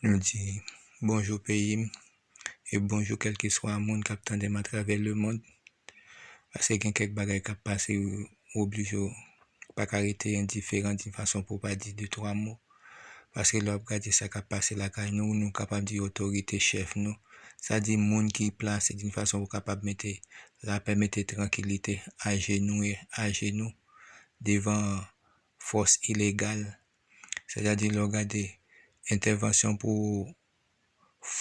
Nou di bonjou peyi m e bonjou kèlkeswa moun k ap tande m atravè lemond. Pase gen kèk bagay k ap pase ou oblije ou pa ka rete endiferan di fason pou w pa di de twa mo. Paske lè w ap gade sa k ap pase lakay nou, nou kapab di otorite, chèf nou, sa di moun ki plase di fason pou kapab mete lapè, mete trankilite ajenou, ajenou devan fòs ilegal Sètadi lè w gade entèvansyon pou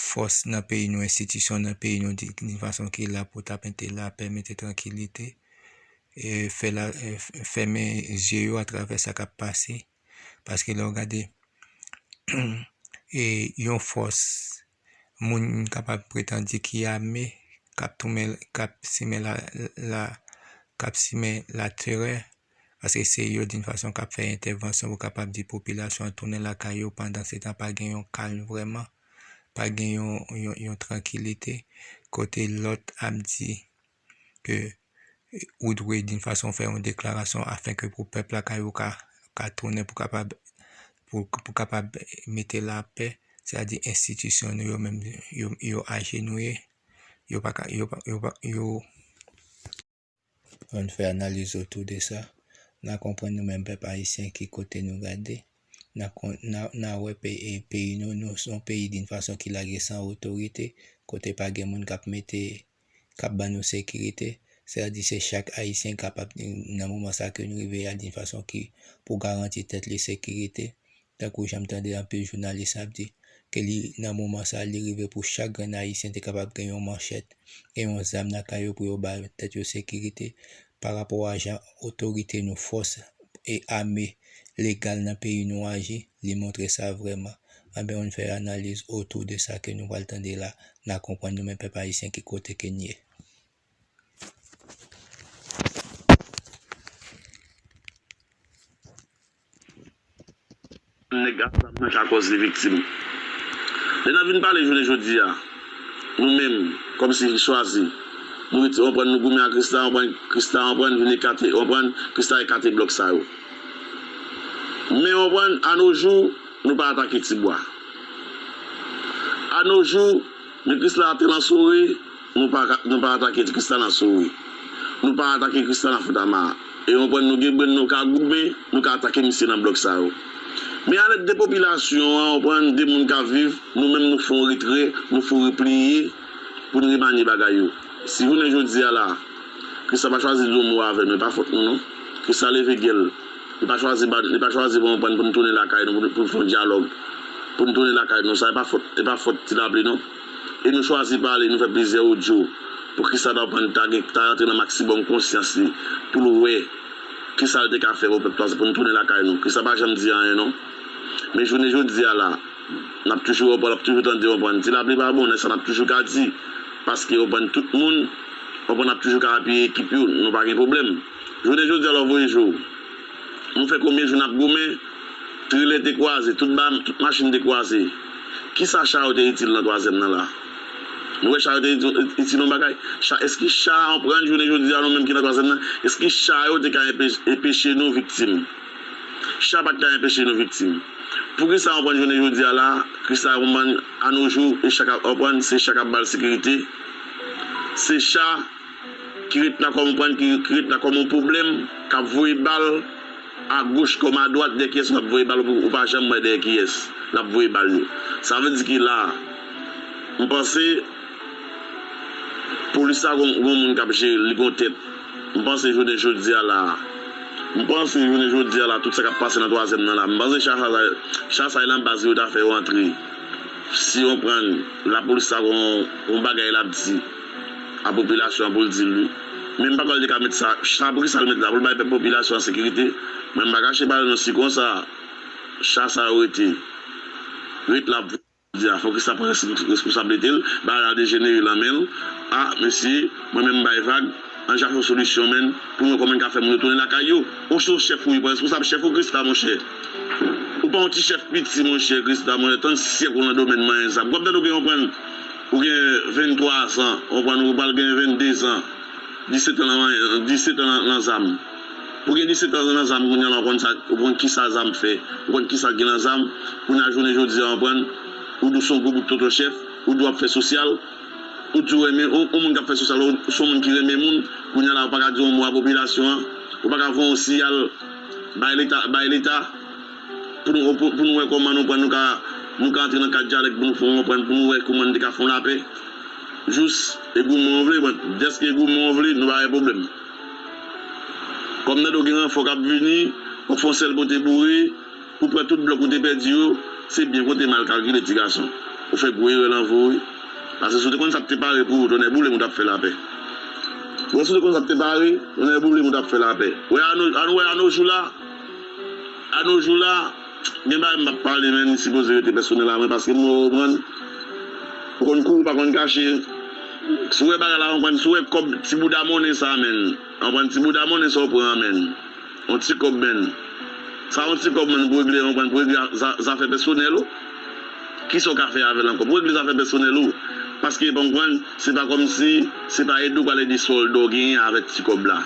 fòs nan peyi nou, enstitisyon nan peyi nou di ki fason ki la pou ta mete lapè, mete trankilite, e fè la fèmen zye yo atravè sa k ap pase. Paske lè w gade yon fòs moun kapab pretan di ki ame kap toumen kap simen la la kap simen la terè paske se yo din fason kap fè entèvansyon pou kapab di popilasyon an tounen lakay yo pandan se tan pa gen yon kalm vrèman pa gen yon yon trankilite kote lòt ap di ke ou dwe d'une façon fè yon deklarasyon afin ke pou pèp lakay ou ka ka tounen pou kapab pou kapab mete la pè sa di enstitisyon nou yo menm yo yo ajenouye yo pa ka yo pa yo pa yo ann fè analiz otou de sa na konprann nou menm pèp ayisyen ki kote nou gade na kon na na wè pe e peyi nou nou son peyi d'une façon ki lage san otorite kote pa gen moun kap mete k ap ban nou sekirite, sa vle di se chak Ayisyen kapab nan moman sa ke nou rive ya di fason ki pou garanti tèt li sekirite, tankou jan m tande anpil jounalis ap di, ke li nan moman sa li rive pou chak grenn Ayisyen te kapab gen yon manchèt e yon zam nan kay yo pou yo ba tèt yo sekirite, pa rapò a jan otorite nou, fòs e ame legal nan peyi nou aji, li montre sa vrèman. Anben on fè analiz otou de sa ke nou pral tande la, na konprann nou menm pèp ayisyen ki kote ke n ye. Menm nèg ak zam nan ka kòz li viktim. Lè n ap vin pale jounen jodi a, nou menm, kòm si, chwazi, nou rete, anprann, nou goumen ak Christa, anprann, Christa, anprann, vin ekate, anprann, Christa ekate blòk sa yo. Men, anprann, anojou, nou pa atake ti bwa. Anojou, men Chrisla a tèlman sore. Nou pa ka, nou pa atake Tristana nan Sourit. Nou pa atake Tristana nan Foutamar. E yon pwen nou gen brenn nou ka goumen, nou ka atake misye nan blòk sa yo. Men a lèd de popilasyon an, konprann, de moun k ap viv, nou menm nou fon retrè, nou fon repliye pou n remanye bagay yo. Si jounen jodi a la, Christa pa chwazi di yon mo avè nou, e pa fòt nou non. Christa leve gè l. Li pa chwazi ba n, li pa chwazi pou, konprann, pou n tounen lakay nou, pou n fon dyalòg, pou n tounen lakay nou. Sa e pa fòt, e pa fòt Tilapli non. E nou chwazi pale, nou fè plizyè odyo. Poukisa nou aprann Thage ta rantre nan maksibòm konsyans li pou l wè kisa l te ka fè pou pèp la se pou nou tounen lakay nou. Christian pa janm di anyen non. Men jounen jodi a la, n ap toujou wè w ap toujou tande w konprann. Ti lapli pa bon, e sa n ap toujou ka di. Paske w konprann tout moun konprann ap toujou ka apiye ekip yo, nou pa gen pwoblèm. Jounen jodi a la w voye jwe w. Nou fè konbyen jou nap goumen? Trelè te kwaze, tout ba, tout machin te kwaze. Kisa cha yo te itil nan twazyèm nan la? Nou wè cha yo te itil yon bagay? Cha, eske cha anprann jounen jodi a nou menm ki nan twazyèm nan, eske cha yo te ka enpeche nou viktim? Cha pat ka enpeche nou viktim. Poukisa anprann jounen jodi a la, Krisla anprann anojou e cha kap anprann, se cha kap bal sekirite? Se cha. ki ret la kòm konprann ki ki ret la kòm yon pwoblèm kap voye bal a goch kòm a dwat dèyè kiyès lap voye bal ou pa janm wè dèyè kiyès lap voye bal yo sa vle di ki la m panse polis la gon gon moun kap jere l li gon tèt m panse jounen jodia la m panse jounen jodia la tout sa kap pase nan twazyèm nan la m panse cha sa cha sa e nan baz li yo ta fè yo antre si yo prann lapolis la gon gon bagay lap di. a popilasyon an pou l di l wi. Men m pa kwè l te ka met sa, cha pou ki sa l met la pou l bay pèp popilasyon an sekirite? Men m pa kache ba l non si konsa cha sa yo rete, ret la pou jodi a fò ki sa pran responsablite l, bagay la dejenere lan men l, a mesye mwen menm m bay vag an chache yon solisyon menn pou n wè kòman n ka fè moun yo tounen lakay yo. Ou se yon chèf wi, pran responsab chèf ou Christa monchè. Ou pa yon ti chèf piti monchè Christa monchè, 30 syèk ou lan domèn manyen sa. Pou w ap tande w gen yon pran. Ou gen 23 zan, ou konprann, ou pral gen 22 zan, 17 an nan, 17 an nan, nan zam. Ou gen 17 an nan zam kounye a la, ou konn sa, ou konn ki sa zam fè, ou konn ki sa k gen nan zam, kounye a jounen jodi a, ou konprann, ou di w se yon gwo bout tonton chèf, ou di w ap fè sosyal, ou di w renmen, yon moun k ap fè sosyal la, ou se yon moun ki renmen moun, kounye a la ou pa ka di yon mo a popilasyon an, ou pa ka voye yon siyal bay leta, bay leta. pou nou wè kòman nou kwè nou ka nou ka antre nan kad dyalèg pou nou fon anprann pou nou wè kouman nou te ka fon lapè jous e goumen an vle bon dèske goumen an vle nou pa gen pwoblèm kòm nan do gen ranfò kap vini wap fon sèl pote boure pou pran tout blòk ou te pèdi yo se byen konte mal kalkile ti gason ou fè gwo erè lan vi w wi paske si w te konn sap te pare pou ou tonnè boule m ou tap fè lapè wè si w te konn sap te pare tonnè boule m ou tap fè lapè wè anou wè anou jou la. A no jou la, gen bagay m pa pale men li sipoze rete pèsonèl a mwen paske m wè ou konprann. Ou konn kou ou pa konn kache. Si w wè bagay la konprann, si w wè kòb ti bouda monnen sa a menn, konprann ti bouda monnen sa ou pran an menn, yon ti kòb menn. Sa yon ti kòb menn pou regle konprann, pou regle zafè pèsonèl ou. Ki sa w ka fè avè l ankò? Pou regle zafè pèsonèl ou. Paske konprann, se pa kòmsi se pa ede ou pral ede sòl dò genyen avèk ti kòb la.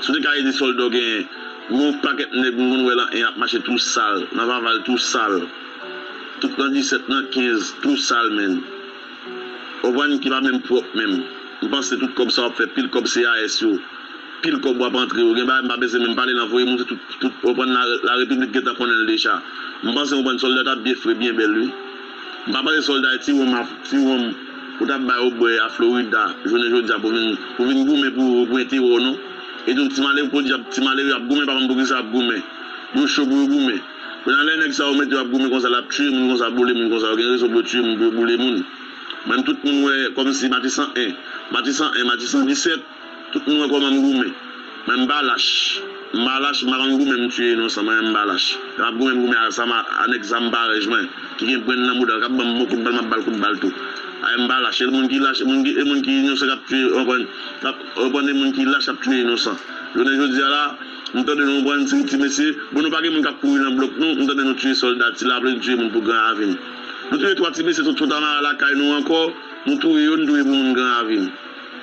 Si w te ka ede solda w genyen. M wè yon pakèt nèg m konn wè lan 1 ap mache tou sal, nan vaval tou sal, tout nan 17 nan 15 tou sal menn. Konprann ki pa menm pwòp menm. M panse tout kòb sa w ap fè pil kòb CAS yo, pil kòb wap antre yo gen bagay m pa bezwen menm pale lan voye moun se tout tout konprann la repiblik gentan konnen l deja. M panse konprann solda tap byen fre byen bèl wi. M pa pale solda e ti wonm a ti wonm ou tap ba yo bwe a Florida jounen jodia pou vin pou vin goumen pou pou entero w non e tou ti malere podyab ti malere ap goumen pa konn poukisa yap goumen yo cho pou yo goumen kounya lè nèg sa yo mete yo ap goumen konsa lap tiye moun konsa boule moun konsa yo gen rezon pou yo tiye moun pou yo boule moun menm tout moun wè kòmsi matisan 1 matisan 1 matisan 17. Tout moun wè kòman m goumen. Mwen m pa lach. M pa lach, m pa konn goumen m tiye inonsan mwen menm m pa lach. Lè m ap goumen m goumen a zam a nèg zam parèj mwen ki gen brenn nan mouda l k ap ban m bon kout bal m ap ba l kout bal tou. Ayè m pa lach. E moun ki lach e moun ki e moun ki inosan k ap tiye ou konprann k ap ou konprann e moun ki lach ap tiye inosan. Jounen jodi a la m tande nou konprann se ti mesye bon nou pa gen moun k ap kouri nan blòk nou m tande nou tiye sòlda ti laple nou tiye moun pou gran avin. Nou touye twa ti mesye sot Fontamara lakay nou ankò nou touye yo nou touye pou moun gran avin.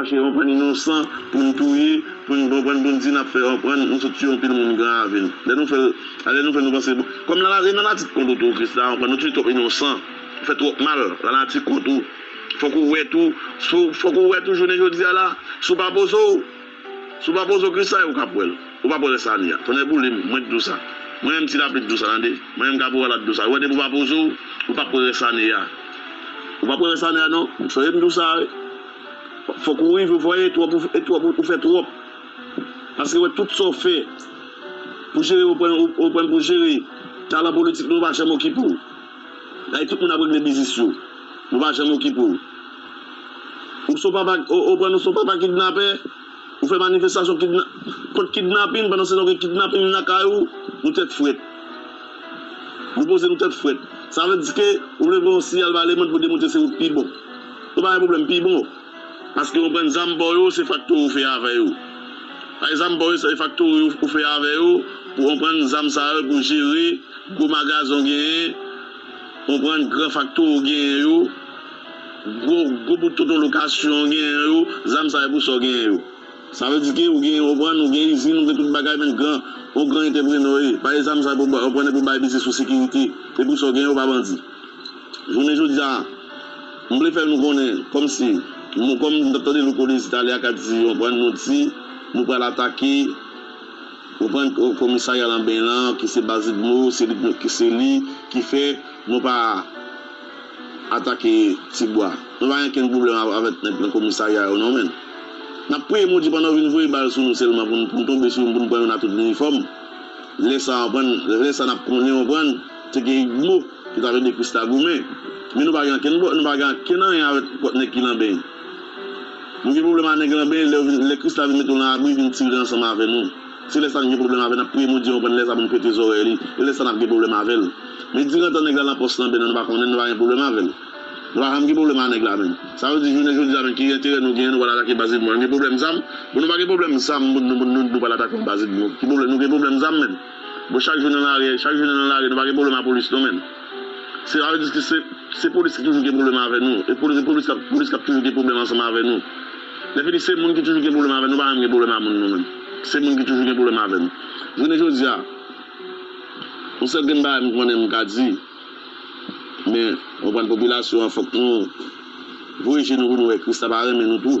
Mache yon bann inosan poun touye poun konprann poun di nap fè anprann nou sot tuye yon pil moun gran avil lè nou fèl alè nou fè nou panse bon kòm lanati nan nati t kont ou tou kris la anprann ou tuye twòp inosan ou fè twòp mal lanati kont ou fòk ou wè tou sou fòk ou wè tou jounen jodia la sou pa pozow Si w pa poze w krisay, ou ka p wè l. Ou pa p wè rès lane a. Tonnè boule m, mwen k di w sa. Mwen renmn ti lapli k di w sa tande. Mwen renmn kaporal la k di w sa. Ou wè depi w pa poze w, ou pa p wè rès lane a. Ou pa p wè rès lane a non. M sonje m di w sa wi. Fòk ou rive w wè e twòp e twòp ou fè twòp. Paske wè tout sa w fè pou jere ou pran ou pran pou jere. Talan politik nou yo pa janm okipe w. Ay tout moun ap regle biznis yo nou pa janm okipe w ou son papa ou pran nou son papa kidnapè ou fè manifestasyon kidna kont kidnapin pandan se tan w gen kidnapin nan kay ou nou tèt frèt nou poze nou tèt frèt sa vle di ke ou vle voye yon siyal ba lemond pou demontre se ou k pi bon nou pa gen pwoblèm pi bon. Paske ou bann zam baw yo se faktori ou fè avè yo. Bay zam baw yo se faktori ou fè avè yo pou onprann zam sa yo pou jere gwo magazen ou genyen, onprann gran faktori ou genyen yo, gwo gwo bout tonton lokasyon ou genyen yo, zam sa yo pou sa ou genyen yo. Sa vle di ke ou genyen onprann ou gen izin ou gen tout bagay menn gran ou gran entèprenè ou ye. Bay zam sa yo pou onprann epi ou bay biznis ou sekirite e pou sa ou genyen ou pa bandi. Jounen jodi a, m vle fè nou konnen kòm si, kòm nou t ap tande Louko Dezi talè a k ap di ou konprann, nou di nou pral atake ou konprann komisarya Lanben an ki se baz Udmo, se li ki se li ki fè nou pa atake Tibwa. Nou pa gen okenn pwoblèm avèk nèg nan komisarya yo non men n ap priye Bondye pandan yo vin voye bal sou nou sèlman pou n tonbe sou yo pou n pran yo n a tout linifòm lè sa ou konprann lè sa n ap konnen ou konprann. Te gen Igbo ki t ap ede Christa goumen. Men nou pa gen ankenn nou pa gen ankenn anyen avèk kòt nèg ki lanben yo. Nou gen pwoblèm a nèg lanben lè yo vin lè Christa vin mete nou lan abri vin tire ansanm avè nou. Se lè sa nou gen pwoblèm avè n ap priye Bondye konprann lè sa pou nou pete zòrèy li e lè sa n ap gen pwoblèm avè l. Men diran tan nèg la lan pòs lanben an nou pa konnen l nou pa gen pwoblèm avè l. Nou pa janm gen pwoblèm a nèg la menm. Sa vle di jounen jodi a menm ki enterè nou genyen nou pral atake Baz Edmond. Nou gen pwoblèm zam? Bon nou pa gen pwoblèm zam pou nou pou nou nou pral atake yon Baz Edmond. Ki pwoblèm nou gen pwoblèm zam menm? Bon chak jou nan lare chak jou nan lare nou pa gen pwoblèm a polis non menm se sa vle di ke se polis ki toujou gen pwoblèm avè nou e polis kap polis kap toujou gen pwoblèm ansanm avè nou lè fini se moun ki toujou gen pwoblèm avè nou nou pa menm gen pwoblèm a moun nou menm se moun ki toujou gen pwoblèm avè nou jounen jodia yon sèl grenn bagay m konnen m ka di men konprann popilasyon an fòk nou voye je nou pou nou wè kris la pa renmen nou tou.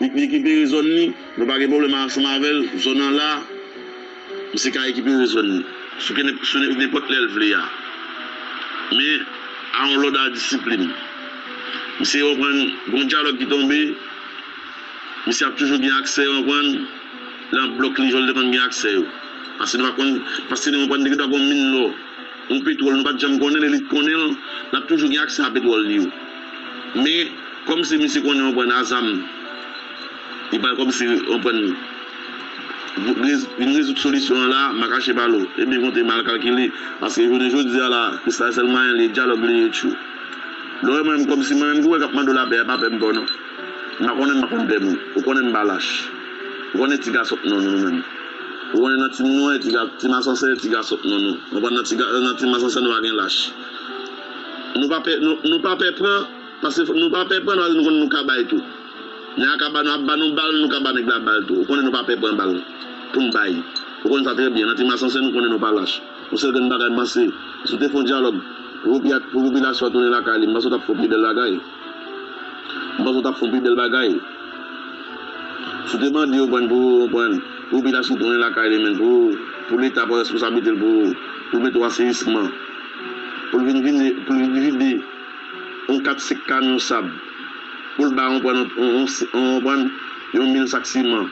Li k ekipere zòn li, nou pa gen pwoblèm ansanm avè l. Zòn an la, misye ka ekipere zòn li sou ke sou nenpòt lè l vle a. Men, a yon lòd a disiplin. Misye konprann gen yon dyalòg ki tonbe, misye ap toujou gen aksè, konprann, lan blòk li jan l te konn gen aksè yo. Paske nou pa konn, paske nou konprann deke ta gen yon min lò, yon petwòl nou pa t janm konnen, lè li t konnen l, l ap toujou gen aksè a petwòl li yo. Men komsi misye konnen yon pwen a zam li pral komsi konprann vin rezoud solisyon an la makache balo e byen konte mal kalkile paske jounen jodia la kristal sèl mayen li dyalòg li ye tjou lè w wè mwen menm komsi mwen menm ki wè kap mande w lapè a pa pè m pa w non m pa konnen m pa konn pè moun ou konnen m pa lach ou konnen tiga sòt non nou menm ou konnen nan ti nwè ti masansè tiga sòt non nou konprann nan ti masansè nou pa gen lach. Nou pa pè nou pa pè pran paske nou pa pè pran nou konn nou ka bay tou nèg la ka ba nou ap ba nou bal nou ka ba nèg la bal tou ou konnen nou pa pè pran bal poun bay ou konn sa trè byen nan ti masansen nou konnen nou pa lach yon sèl grenn bagay m panse si w te fon dyalòg pou popilasyon an tounen lakay li m panse w tap fon pi bèl bagay. M panse w tap fon pi bel bagay. Si w te mande yo ban pou ou konprann pou pil achitek tounen lakay li men pou pou leta pran responsabilite l pou pou mete w aseyisman pou l vin vide pou l vin vide yon 4 5 kamyon sab pou l bay konprann yon yon konprann yon mil sak siman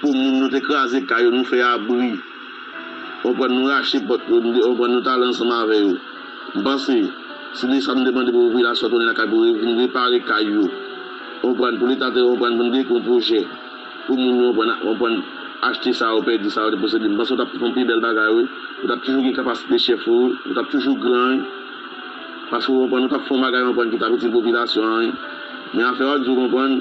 pou moun nou te kraze kay yo nou fè abri. Ou konprann nou rache pòt yo, ou konprann nou t ale ansanm avè yo. M panse, se de sa nou te mande pou popilasyon tounen lakay pou vin repare kay yo. Ou konprann, pou leta te konprann pou n deke yon pwojè pou moun yo konprann achte sa yo pèdi, sa yo te posede. M panse ou t ap fè yon pi bèl bagay wi. Ou t ap toujou gen kapasite chèf ou, ou t ap toujou gran wi. Paske ou konprann ou t ap fè yon bagay ou konprann ki t ap itil popilasyon an wi. Men afè w ap di ou konprann.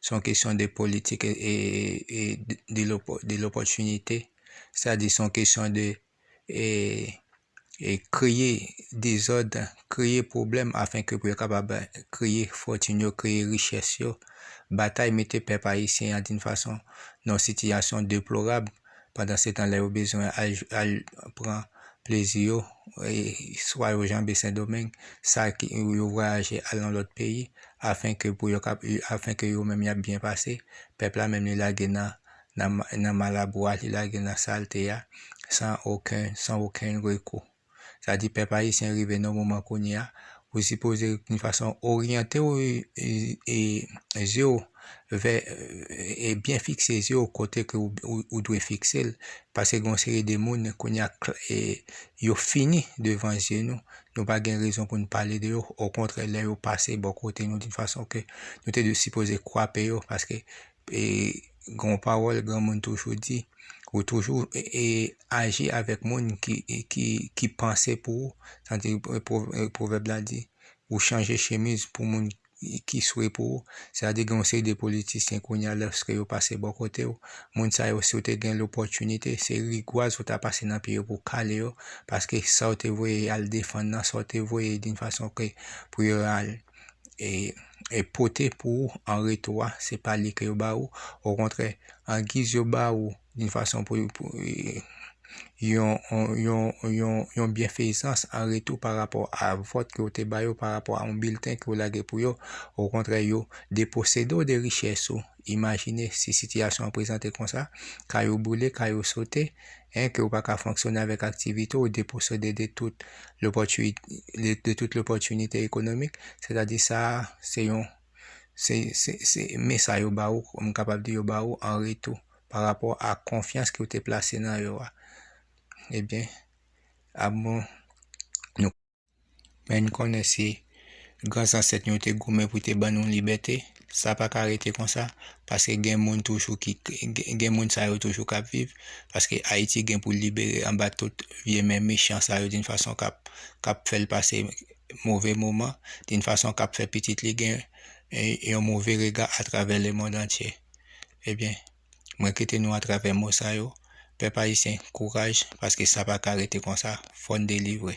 Se yon kesyon de politik e de lopòtinite. Sa di se yon kesyon de kreye dezòd, kreye pwoblèm afen ke pou yo kapab kreye fòtin yo, kreye richès yo. Batay mete pèp ayisyen an di yon fason nan yon sitiyasyon deplorab. Pandansetan lè yo bezwen al pran plezi yo, swa yo janbe Sendomeng, sa ki yo vwayaje al nan lòt peyi, afen ke pou yo kap, afen ke yo menm yap byen pase, pèp la menm li lage nan nan malabwa, li lage nan salte a, san oken, san oken rekou. Sa di pèp ayisyen rive nan moman kounye a, ou sipoze youn fason oryante w e zye w vè e byen fikse zye w kote ke ou dwe fikse l, pase gen yon seri de moun kounye a e yo fini devan zye nou, nou pa gen rezon pou nou pale de yo, okontrè lè yo pase bò kote nou di fason ke nou te dwe sipoze kwape yo paske e gen yon pawòl granmoun toujou di, ou toujou e aji avèk moun ki ki ki panse pou ou, sa di pwovèb la di, ou chanje chemiz pou moun ki swe pou ou, sa di gen yon seri de politisyen kounye a lòske yo pase bò kote ou, moun sa yo si w te gen lòpòtinite se rigwaz ou ta pase nan pye yo pou w kale yo, paske sa w te voye al defann nan, sa w te voye doun fason ke pou yo al. e pote pou ou an retou a, se pa li ke yo ba ou, o kontrè, an giz yo ba ou yon fason pou yon byenfeyisans an retou pa rapò a vòt ke ou te ba yo, pa rapò a yon bilten ke ou lage pou yo, o kontrè yo deposede ou de richès ou. Imajine si sitiyasyon an prezante konsa, kay ou boule, kay ou sote, en ke ou pa ka fonksyone avèk aktivite ou deposede de tout de tout lopòtinite ekonomik, sètadi sa a se yon se se se men sa yo ba ou m kapab di yo ba ou an retou pa rapò a konfyans ke ou te plase nan yo a. Ebyen, a bon nou. Men n konnen si gran zansèt nou yo te goumen pou te ban nou libète, sa pa ka rete konsa paske gen moun toujou ki gen moun sa yo toujou k ap viv paske Ayiti gen pou l libere anba tout vye men mechan sa yo di n fason k ap k ap fè l pase move moman di n fason k ap fè pitit li gen yon move rega atravè lemonn antye. Ebyen. Mwen kite nou atravè mo sa yo, pèp ayisyen kouraj paske sa pa ka rete konsa, fò n delivre.